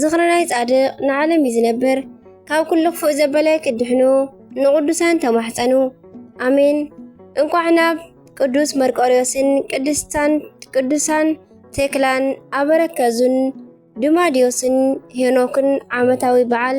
ዝኽሪ ናይ ጻድቕ ንዓለም እዩ ዝነብር። ካብ ኩሉ ክፉእ ዘበለ ክድሕኑ ንቕዱሳን ተማሕጸኑ። ኣሜን። እንቋዕ ናብ ቅዱስ መርቆርዮስን ቅድስታን ቅዱሳን ቴክላን ኣበረከዙን ድማዲዮስን ሄኖክን ዓመታዊ በዓል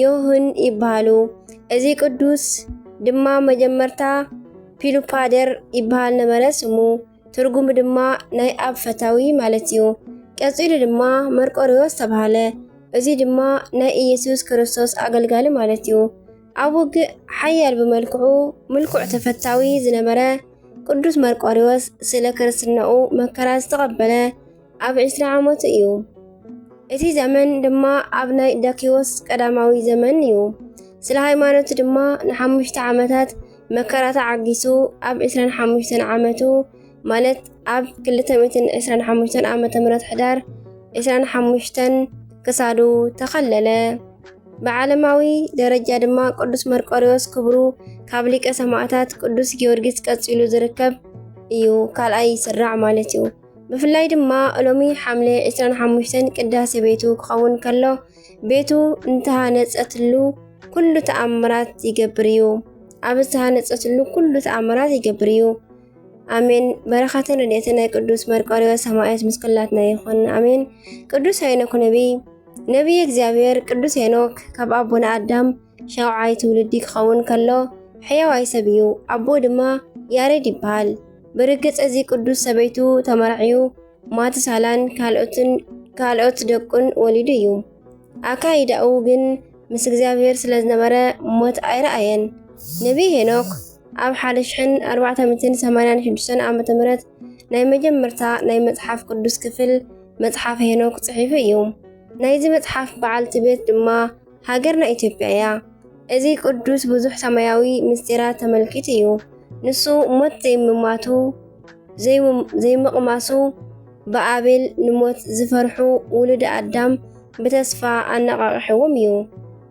ዮህን ይበሃሉ። እዚ ቅዱስ ድማ መጀመርታ ፒሉፓደር ይበሃል ነበረ ስሙ፣ ትርጉሙ ድማ ናይ ኣብ ፈታዊ ማለት እዩ። ቀጺሉ ድማ መርቆሪዎስ ተባህለ። እዚ ድማ ናይ ኢየሱስ ክርስቶስ ኣገልጋሊ ማለት እዩ። ኣብ ውግእ ሓያል ብመልክዑ ምልኩዕ ተፈታዊ ዝነበረ ቅዱስ መርቆሪዎስ ስለ ክርስትናኡ መከራ ዝተቐበለ ኣብ ዕስራ ዓመቱ እዩ። እቲ ዘመን ድማ ኣብ ናይ ዳኪዎስ ቀዳማዊ ዘመን እዩ። ስለ ሃይማኖቱ ድማ ንሓሙሽተ ዓመታት መከራ ተዓጊሱ ኣብ ዕስራን ሓሙሽተን ዓመቱ ማለት ኣብ 225 ዓ ም ሕዳር 25 ክሳዱ ተኸለለ። ብዓለማዊ ደረጃ ድማ ቅዱስ መርቆሪዎስ ክብሩ ካብ ሊቀ ሰማዕታት ቅዱስ ጊዮርጊስ ቀጺሉ ዝርከብ እዩ። ካልኣይ ይስራዕ ማለት እዩ። ብፍላይ ድማ ሎሚ ሓምለ 25 ቅዳሴ ቤቱ ክኸውን ከሎ ቤቱ እንተሃነፀትሉ ኩሉ ተኣምራት ይገብር እዩ። ኣብ ዝተሃነፀትሉ ኩሉ ተኣምራት ይገብር እዩ። ኣሜን። በረኸትን ረድኤትን ናይ ቅዱስ መርቆሬዎስ ሰማዕት ምስ ኩላትና ይኹን። ኣሜን። ቅዱስ ሄኖክ ነቢይ ነቢይ እግዚኣብሔር ቅዱስ ሄኖክ ካብ ኣቦና ኣዳም ሻውዓይ ትውልዲ ክኸውን ከሎ ሕያዋይ ሰብ እዩ፣ ኣቦኡ ድማ ያሬድ ይበሃል። ብርግጽ እዚ ቅዱስ ሰበይቱ ተመርዕዩ ማትሳላን ካልኦትን ካልኦት ደቁን ወሊዱ እዩ። ኣካይዳኡ ግን ምስ እግዚኣብሔር ስለ ዝነበረ ሞት ኣይረኣየን። ነቢይ ሄኖክ ኣብ ሓደ ሽሕን ኣርባዕተ ሚእትን ሰማንያን ሽዱሽተን ዓመተ ምህረት ናይ መጀመርታ ናይ መጽሓፍ ቅዱስ ክፍል መጽሓፍ ሄኖክ ጽሒፉ እዩ። ናይዚ መጽሓፍ በዓልቲ ቤት ድማ ሃገርና ኢትዮጵያ እያ። እዚ ቅዱስ ብዙሕ ሰማያዊ ምስጢራት ተመልኪቱ እዩ። ንሱ ሞት ዘይምማቱ ዘይምቕማሱ ብኣቤል ንሞት ዝፈርሑ ውሉድ ኣዳም ብተስፋ ኣነቓቕሕዎም እዩ።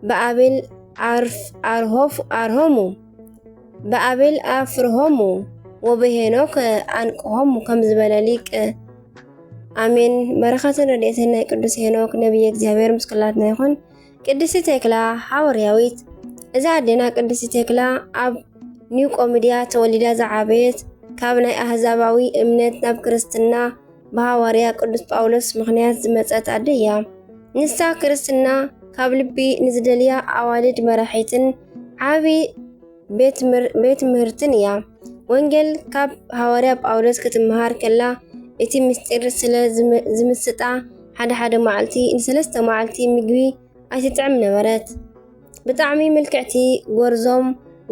ብኣቤል ኣርሆፍ ኣርሆሙ ብኣቤል ኣፍርሆሙ ወበሄኖክ ኣንቅሆሙ ከም ዝበለ ሊቅ ኣሜን በረኸትን ረድኤትን ናይ ቅዱስ ሄኖክ ነቢየ እግዚኣብሔር ምስ ኩላትና ይኹን። ቅድስቲ ቴክላ ሓወርያዊት እዛ ኣዴና ቅድስቲ ቴክላ ኣብ ኒው ቆሚድያ ተወሊዳ ዝዓበየት ካብ ናይ ኣህዛባዊ እምነት ናብ ክርስትና ብሃዋርያ ቅዱስ ጳውሎስ ምኽንያት ዝመጸት ኣደ እያ። ንሳ ክርስትና ካብ ልቢ ንዝደልያ ኣዋልድ መራሒትን ዓቢ ቤት ምህርትን እያ። ወንጌል ካብ ሃዋርያ ጳውሎስ ክትመሃር ከላ እቲ ምስጢር ስለ ዝምስጣ ሓደ ሓደ መዓልቲ ንሰለስተ መዓልቲ ምግቢ ኣይትጥዕም ነበረት። ብጣዕሚ ምልክዕቲ ጎርዞም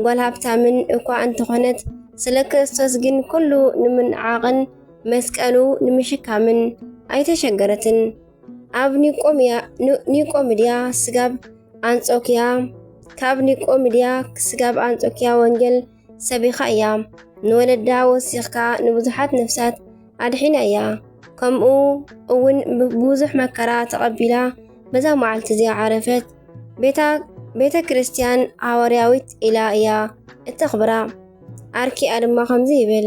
ጓል ሃብታምን እኳ እንተኾነት ስለ ክርስቶስ ግን ኩሉ ንምንዓቕን መስቀሉ ንምሽካምን ኣይተሸገረትን። ኣብ ኒቆምድያ ስጋብ ኣንጾክያ ካብ ኒቆምድያ ስጋብ ኣንጾክያ ወንጌል ሰቢኻ እያ ንወለዳ ወሲኽካ ንብዙሓት ነፍሳት ኣድሒና እያ ከምኡ እውን ብዙሕ መከራ ተቐቢላ በዛ መዓልቲ እዚኣ ዓረፈት ቤተ ክርስቲያን ሃዋርያዊት ኢላ እያ እተኽብራ ኣርኪኣ ድማ ከምዚ ይብል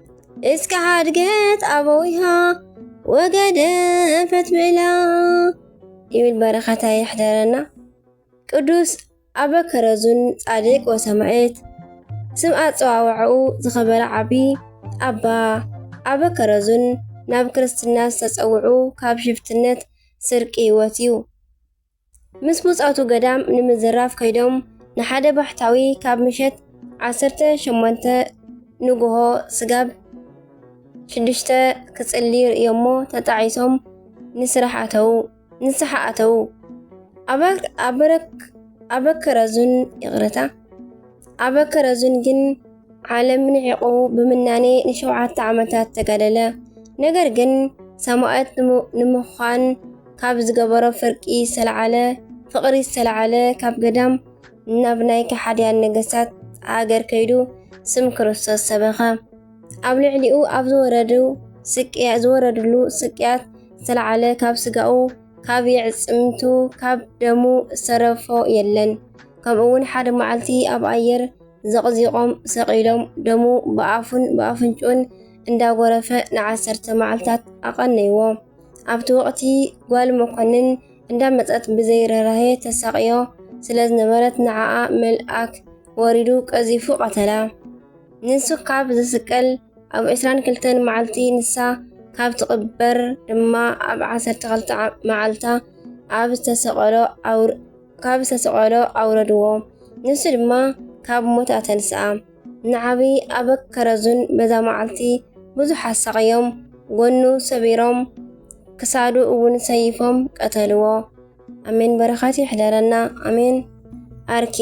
እስከ ሓድገት ኣበዊሃ ወገደፈት ብላ ይብል በረኸታ ይሕደረና። ቅዱስ ኣበ ከረዙን ጻድቅ ወሰማዕት ስም ኣጸዋውዐኡ ዝኸበረ ዓቢ ኣባ ኣበ ከረዙን ናብ ክርስትና ዝተጸውዑ ካብ ሽፍትነት ስርቂ ህይወት እዩ። ምስ ብጾቱ ገዳም ንምዝራፍ ከይዶም ንሓደ ባሕታዊ ካብ ምሸት ዓሰርተ ሸሞንተ ንግሆ ስጋብ ሽዱሽተ ክጽሊ ርእዮሞ ተጣዒሶም ንስራሕ ኣተዉ ንስሓ ኣተዉ ኣበክረዙን ይቕረታ ኣበክረዙን ግን ዓለም ንዒቑ ብምናኔ ንሸውዓተ ዓመታት ተጋደለ። ነገር ግን ሰማእት ንምዃን ካብ ዝገበሮ ፍርቂ ዝተለዓለ ፍቕሪ ዝተለዓለ ካብ ገዳም ናብ ናይ ከሓድያን ነገስታት ሃገር ከይዱ ስም ክርስቶስ ሰበኸ። ኣብ ልዕሊኡ ኣብ ዝወረዱ ስቅያ ዝወረድሉ ስቅያት ዝተለዓለ ካብ ስጋኡ ካብ የዕጽምቱ ካብ ደሙ ዝተረፎ የለን። ከምኡውን ሓደ መዓልቲ ኣብ ኣየር ዘቕዚቖም ሰቒሎም ደሙ ብኣፉን ብኣፍንጭኡን እንዳጎረፈ ንዓሰርተ መዓልታት ኣቐነይዎ። ኣብቲ ወቕቲ ጓል መኮንን እንዳመፀት ብዘይ ርህራሄ ተሳቕዮ ስለ ዝነበረት ንዓኣ መልኣክ ወሪዱ ቀዚፉ ቀተላ። ንሱ ካብ ዝስቀል ኣብ 22 መዓልቲ ንሳ ካብ ትቕበር ድማ ኣብ 12 መዓልታ ኣብ ዝተሰቐሎ ኣውር ካብ ዝተሰቐሎ ኣውረድዎ፣ ንሱ ድማ ካብ ሞት ኣተንስኣ። ንዓቢ ኣብ ከረዙን በዛ መዓልቲ ብዙሕ ኣሳቕዮም፣ ጎኑ ሰቢሮም ክሳዱ እውን ሰይፎም ቀተልዎ። ኣሜን በረኸት ይሕደረና ኣሜን ኣርኬ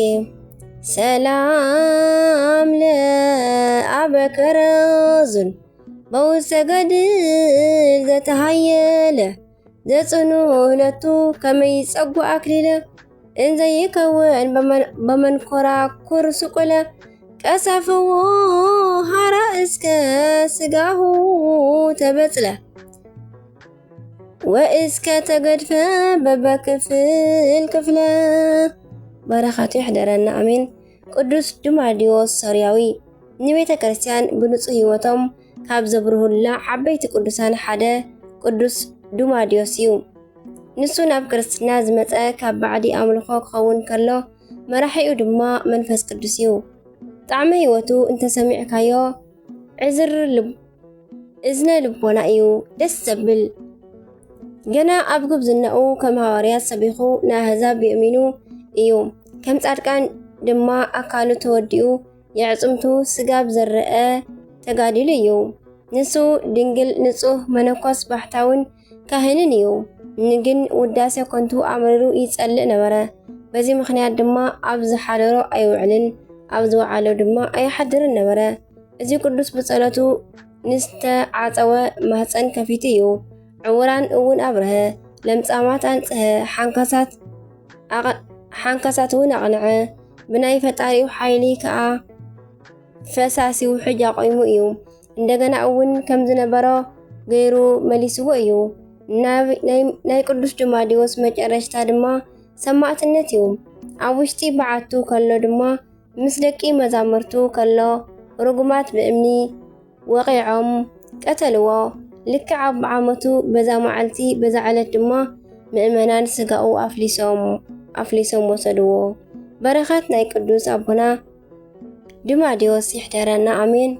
ሰላም ለኣበከረዙን በውሰገድል ዘተሃየለ ዘጽኑ እህለቱ ከመይ ይጸጉ ኣክሊለ እንዘይከውን በመንኮራኩር ስቁለ ቀሰፍዎ ሃራ እስከ ስጋሁ ተበጽለ ወእስከ ተገድፈ በበክፍል ክፍለ በረኻቱ ይሕደረና ኣሜን። ቅዱስ ዱማዲዎስ ሶርያዊ ንቤተ ክርስቲያን ብንጹህ ሕይወቶም ካብ ዘብርሁልና ዓበይቲ ቅዱሳን ሓደ ቅዱስ ዱማዲዮስ እዩ። ንሱ ናብ ክርስትና ዝመፀ ካብ ባዕዲ ኣምልኾ ክኸውን ከሎ መራሒኡ ድማ መንፈስ ቅዱስ እዩ። ጣዕመ ህይወቱ እንተሰሚዕካዮ ዕዝር ልብ እዝነ ልቦና እዩ ደስ ዘብል። ገና ኣብ ጉብዝናኡ ከም ሃዋርያት ሰቢኹ ንኣህዛብ የእሚኑ እዩ። ከም ጻድቃን ድማ ኣካሉ ተወዲኡ የዕጽምቱ ስጋብ ዝረአ ተጋዲሉ እዩ። ንሱ ድንግል ንጹህ መነኮስ ባሕታውን ካህንን እዩ። ንግን ውዳሴ ኮንቱ ኣምሪሩ ይጸልእ ነበረ። በዚ ምክንያት ድማ ኣብ ዝሓደሮ ኣይውዕልን ኣብ ዝወዓሎ ድማ ኣይሓድርን ነበረ። እዚ ቅዱስ ብጸሎቱ ንዝተዓጸወ ማህፀን ከፊቱ እዩ። ዕውራን እውን ኣብርሀ፣ ለምጻማት ኣንጽሀ፣ ሓንካሳት እውን ኣቕንዐ፣ ብናይ ፈጣሪኡ ሓይሊ ከኣ ፈሳሲ ውሕጅ ኣቑሙ እዩ። እንደገና እውን ከም ዝነበሮ ገይሩ መሊስዎ እዩ። ናይ ቅዱስ ድማዲዎስ መጨረሽታ ድማ ሰማዕትነት እዩ። ኣብ ውሽጢ በዓቱ ከሎ ድማ ምስ ደቂ መዛምርቱ ከሎ ርጉማት ብእምኒ ወቒዖም ቀተልዎ። ልክዕ ኣብ ዓመቱ በዛ መዓልቲ በዛ ዕለት ድማ ምእመናን ስጋኡ ኣፍሊሶም ኣፍሊሶም ወሰድዎ። በረኸት ናይ ቅዱስ ኣቦና ድማዲዎስ ይሕደረና ኣሜን።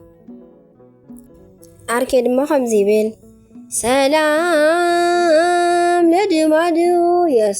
ዓርኬ ድማ ከምዚ ይብል ሰላም ለድማድዮስ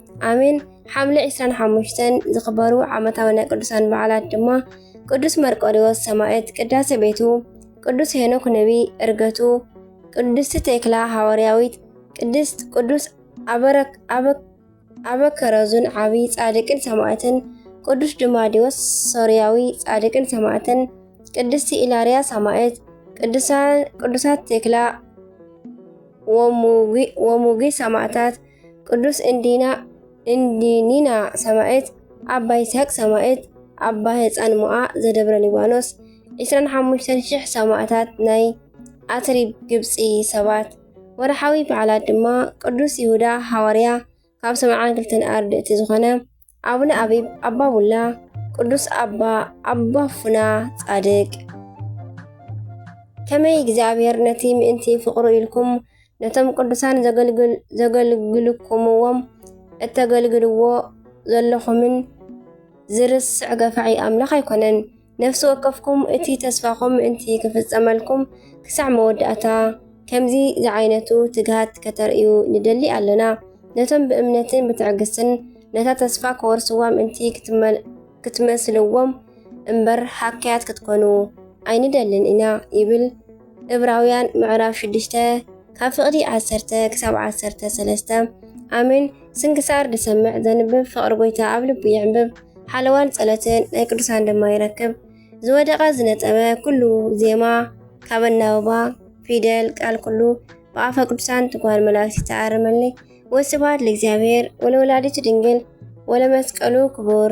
ኣሜን። ሓምለ 25 ዝኽበሩ ዓመታዊ ናይ ቅዱሳን በዓላት ድማ ቅዱስ መርቆሪዎስ ሰማዕት ቅዳሴ ቤቱ፣ ቅዱስ ሄኖክ ነቢ እርገቱ፣ ቅድስቲ ቴክላ ሃዋርያዊት፣ ቅድስት ቅዱስ ኣበከረዙን ዓቢ ጻድቅን ሰማዕትን፣ ቅዱስ ድማዲዎስ ሶርያዊ ጻድቅን ሰማዕትን፣ ቅድስቲ ኢላርያ ሰማዕት፣ ቅዱሳት ቴክላ ወሙጊ ሰማዕታት ቅዱስ እንዲና እንዲኒና ሰማዕት፣ ኣባ ይስሐቅ ሰማዕት፣ ኣባ ህፃን ሞኣ ዘደብረ ሊባኖስ፣ 25,000 ሰማዕታት ናይ ኣትሪብ ግብፂ ሰባት። ወርሓዊ በዓላት ድማ ቅዱስ ይሁዳ ሃዋርያ ካብ ሰብዓን ክልተን ኣርድእቲ ዝኾነ፣ ኣቡነ ኣቢብ ኣባ ቡላ ቅዱስ ኣባ ኣባ ፉና ጻድቅ ከመይ እግዚኣብሔር ነቲ ምእንቲ ፍቕሩ ኢልኩም ነቶም ቅዱሳን ዘገልግልኩምዎም እተገልግልዎ ዘለኹምን ዝርስዕ ገፋዒ ኣምላኽ ኣይኮነን። ነፍሲ ወከፍኩም እቲ ተስፋኹም ምእንቲ ክፍጸመልኩም ክሳዕ መወዳእታ ከምዚ ዝዓይነቱ ትግሃት ከተርእዩ ንደሊ ኣለና። ነቶም ብእምነትን ብትዕግስትን ነታ ተስፋ ክወርስዋ ምእንቲ ክትመስልዎም እምበር ሃካያት ክትኮኑ ኣይንደልን ኢና ይብል። እብራውያን ምዕራፍ ሽዱሽተ ካብ ፍቕዲ ዓሰርተ ክሳብ ዓሰርተ ሰለስተ ኣሜን ስንክሳር ድሰምዕ ዘንብብ ፍቕሪ ጎይታ ኣብ ልቡ የዕንብብ ሓለዋን ጸሎትን ናይ ቅዱሳን ድማ ይረክብ ዝወደቐ ዝነጸበ ኩሉ ዜማ ካብ ኣናብባ ፊደል ቃል ኩሉ ብኣፈ ቅዱሳን ትጓል መላእክቲ ተኣርመልይ ወስብሐት ለእግዚኣብሔር ወለወላዲቱ ድንግል ወለመስቀሉ ክቡር